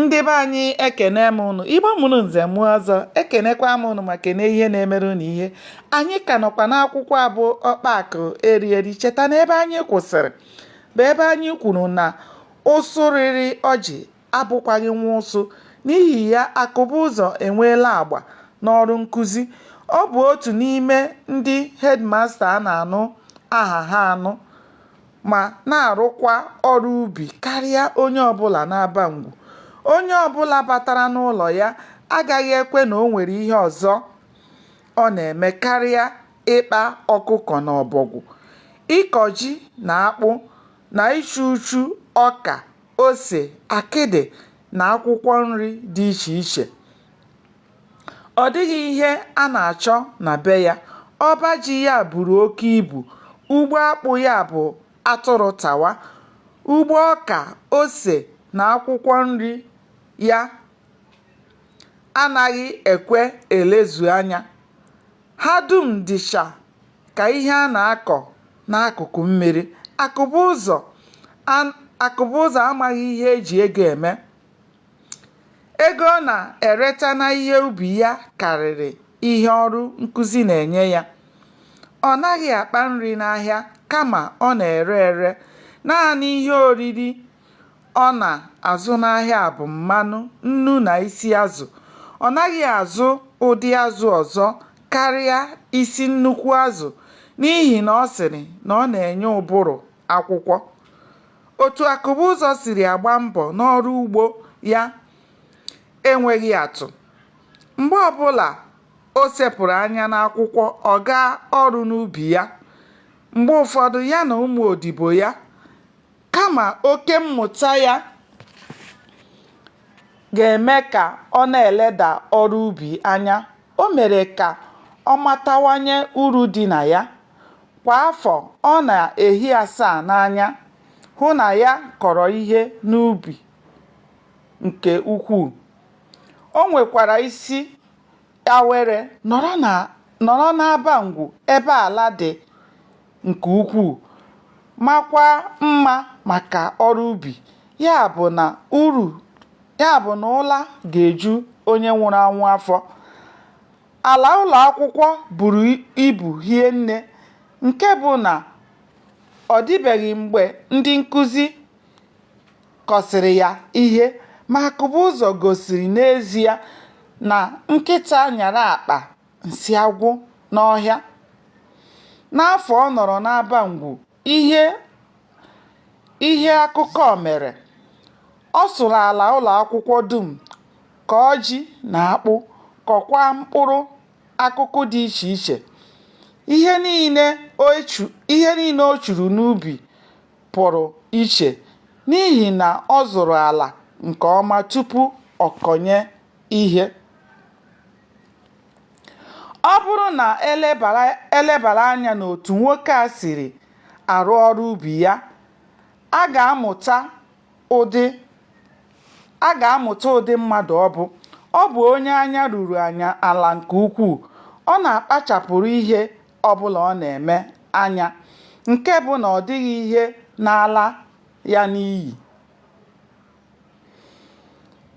ndị be anyị ekene m unu igbo mụrụ nze mụọ ọzọ ekenekwa m unu ma kene ihe na-emere unu ihe anyị ka nọkwa n'akwụkwọ a bụ ọkpa akụ eri eri cheta na ebe anyị kwụsịrị bụ ebe anyị kwuru na ụsụ rịrị ọjị abụkwaghị nwa ụsụ n'ihi ya akụbụzọ enweela agba n'ọrụ nkụzi ọ bụ otu n'ime ndị hedmasta a na-anụ aha ha anụ ma na-arụkwa ọrụ ubi karịa onye ọbụla n'Abangwu. Onye ọbụla batara n'ụlọ ya agaghị ekwe na o nwere ihe ọzọ ọ na-eme karịa ịkpa ọkụkọ na ọbọgwụ, ịkọ ji na akpụ na ichu uchu ọka, ose, akịdị na akwụkwọ nri dị iche iche. Ọ dịghị ihe a na-achọ na be ya. Ọba ji ya buru oke ibu. Ugbo akpụ ya bụ atụrụ tawa. Ugbo ọka, ose na akwụkwọ nri ya anaghị ekwe elezu anya. Ha dum dịcha ka ihe a na-akọ n'akụkụ mmiri. Akụbụzọ amaghị ihe e ji ego eme. ego ọ na-ereta na ihe ubi ya karịrị ihe ọrụ nkụzi na-enye ya. Ọ naghị akpa nri n'ahịa kama ọ na-ere ere. Naanị ihe oriri ọ na-azụ n'ahịa bụ mmanụ, nnu na isi azụ. Ọ naghị azụ ụdị azụ ọzọ karịa isi nnukwu azụ n'ihi na ọ sịrị na ọ na-enye ụbụrụ akwụkwọ. Otu Akụbụzọ siri agba mbọ n'ọrụ ugbo ya enweghị atụ. Mgbe ọbụla o sepụrụ anya n'akwụkwọ ọ gaa ọrụ n'ubi ya. Mgbe ụfọdụ ya na ụmụ odibo ya kama oke mmụta ya ga-eme ka ọ na-eleda ọrụ ubi anya O mere ka ọ matawanye uru dị na ya. Kwa afọ, ọ na-ehi asaa n'anya hụ na ya kọrọ ihe n'ubi nke ukwuu. O nwekwara isi awere nọrọ n'Abangwu ebe ala dị. nke ukwuu makwa mma maka ọrụ ubi ya bụrụ ya bụ na ụla ga-eju onye nwụrụ anwụ afọ ala ụlọ akwụkwọ buru ibu hie nne nke bụ na ọ dịbeghị mgbe ndị nkụzi kọsịrị ya ihe ma akụbụzọ gosiri n'ezie na nkịta nyara akpa nsị agwụ n'ọhịa n'afọ ọ nọrọ n'Abangwu ihe ihe akụkọ mere ọ sụrụ ala ụlọ akwụkwọ dum kọọ ji na akpụ kọkwa mkpụrụ akụkụ dị iche iche ihe niile o churu n'ubi pụrụ iche n'ihi na ọ zụrụ ala nke ọma tupu ọ kọnye ihe ọ bụrụ na e lebara anya n'otu nwoke a siri arụ ọrụ ubi ya a ga-amụta ụdị mmadụ ọ bụ ọ bụ onye anya ruru anya ala nke ukwuu ọ na-akpachapụrụ ihe ọbụla ọ na-eme anya nke bụ na ọ dịghị ihe na-ala ya n'iyi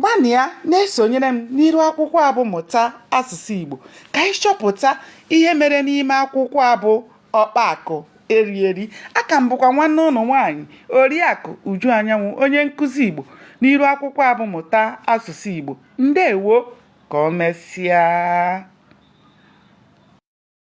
gbanịa na-esonyere m n'iru akwụkwọ a bụ mụta asụsụ Igbo ka anyị chọpụta ihe mere n'ime akwụkwọ a bụ ọkpa akụ eri eri a ka m bụkwa nwanne unu nwaanyị oriakụ Uju Anyanwụ onye nkụzi Igbo n'iru akwụkwọ a bụ mụta asụsụ Igbo ndewo ka o mesịa